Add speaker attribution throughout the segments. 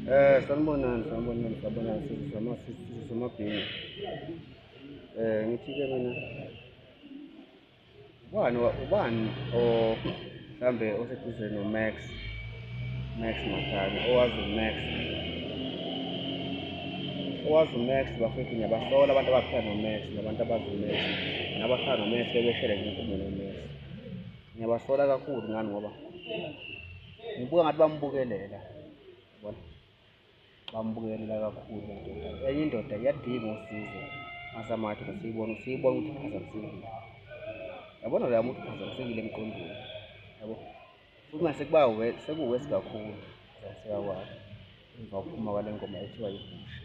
Speaker 1: Eh sanibonani sanibonani sanibonani sizama sizama bhinga. Eh ngithi ke mina ubani ubani o mhlambe oseduze no Max Max Makhanya owazi Max owazi uMax bafethu ngiyabasola abantu abaphila noMax nabantu abazi uMax nabaphila noMax bebeshele ngenkumo noMax ngiyabasola kakhulu ngani ngoba ngibuka ngathi bamubukelela yabona bamubukelela kakhulu indoda enye indoda iyadinga usizo asamathi siyibona siyibona ukuthi iphazamisekile yabona loya muntu uphazamisekile emqondweni yabo futhi mase kuba sekuwesi kakhulu sekuyakwakho emva kokuphuma kwale ngoma ethiwa yibushe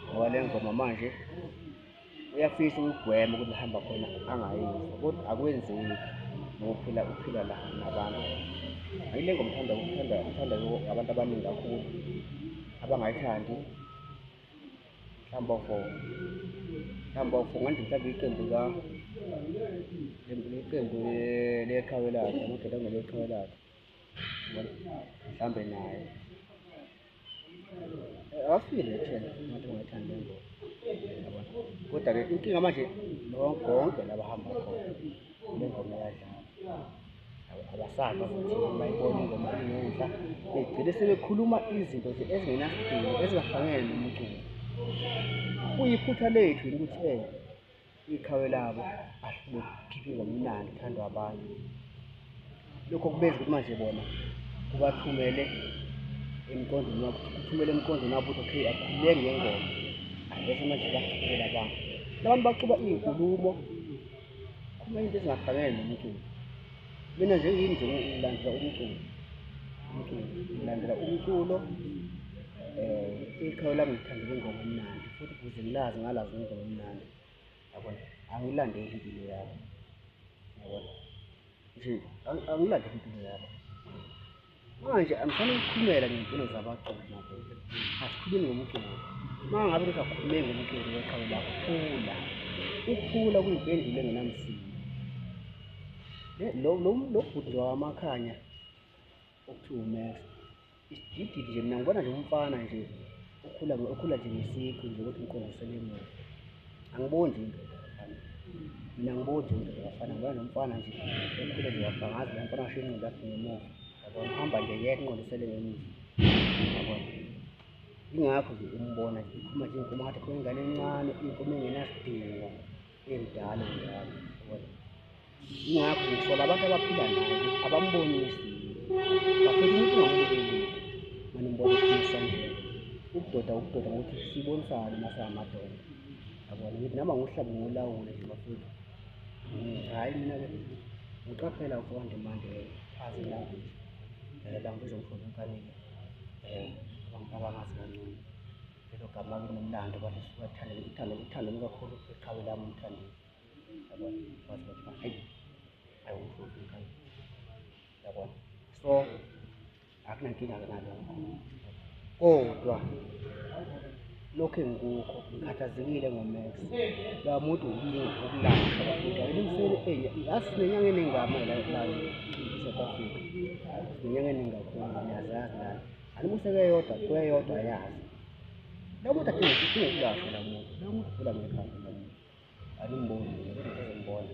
Speaker 1: ngoba le ngoma manje uyafisa ukugwema ukuthi hamba khona angayizwa kodwa akwenzeki ngokuphila uphila la nabantu ayile ngoma uthanda ukuthanda uthanda abantu abaningi kakhulu abangayithandi mhlawumbe ofo mhlawumbe ofo nganje mhlawumbe iqembu ka iqembu leqhawe lakhe amadoda angeleqhawe lakhe mhlambe naye awafile nethena ngathi ungayithanda le ngoba kodwa-ke inkinga manje konke laba hamba khona le ngoma yadlala abasaba ukuthi bayibona ingoma ingenhla begcine sebekhuluma izinto nje ezingenasidingo ezingafanele nomculo kuyiphutha lethu ukuthi um iqhawe labo ahlule kukhiphe ngomnandi kuthandwa abantu lokho kubenza ukuthi manje bona kubathumele emqondweni wabo kuthumele emqondweni wabo ukuthi okay akhulule ngengoma bese manje bachubela abantu labantu bacuba iy'nkulumo khuluma into ezingafanele nomculo Mina nje yini nje ngilandela umculo. Umculo ngilandela umculo eh ikhaya lami ngithandela ingoma emnandi futhi kuze ngilazi ngalazi ingoma emnandi. Yabona? Angilandeli impilo yami. Yabona? Nje angilandeli impilo yami. manje angifanele ukukhulumela ngempilo zabaculi madoda asikhulumi ngomculo uma ngabe kusakhulume ngomculo weqhawe lakho khula ukukhula kuyimpendulo engenamsindo lo bhuti wakamakhanya okuthiwa umax isidididi nje mina ngibona nje umfana nje ukhula ukhula nje ngesikho nje ukuthi ngikhombisele emuva angiboni nje mina ngiboni nje ngiyafana ngoba nomfana nje ukhule nje wabangazi la mfana washo inqondo yakhe ngemuva yabona uhamba nje yeka inqondisele ngemuva yabona ingakho nje umbona nje ikhuma nje inkomo ngathi khona ingane encane inkomo engenasidingo emdala njalo ingakho ngithola abantu abaphila naye abambonisi bafethu umuntu ungamubukeli manimbona ephisa ukudoda ukudoda ngokuthi sibonisane masingamadoda yabona ngithi nama ngohlabe ngolawule nje bafethu hhayi mina ke ngiqaphela ukonde manje azi language um language ongifuna ukanike um abantu abangazi kancane Lelo gama linomlando abantu siwathanda uthando uthando lukakhulu eqhawe lami umthandi. Yabona wathi wathi hayi ayiwufuthi ngani. Yabona. So akunankinga ke nalokho. Kodwa lokhu engikukho ngikhathazekile ngomax la muntu ukulanda elimsele enye yazi sinenyanga eningama la south africa sinenyanga eningakhulu niyazazi lana Alimuse kweyodwa kweyodwa yazi. Nakuthi athi ukulashwa la muntu. Nakuthi ula ngekhaya la muntu. Alimboni, ngeke ngimbone.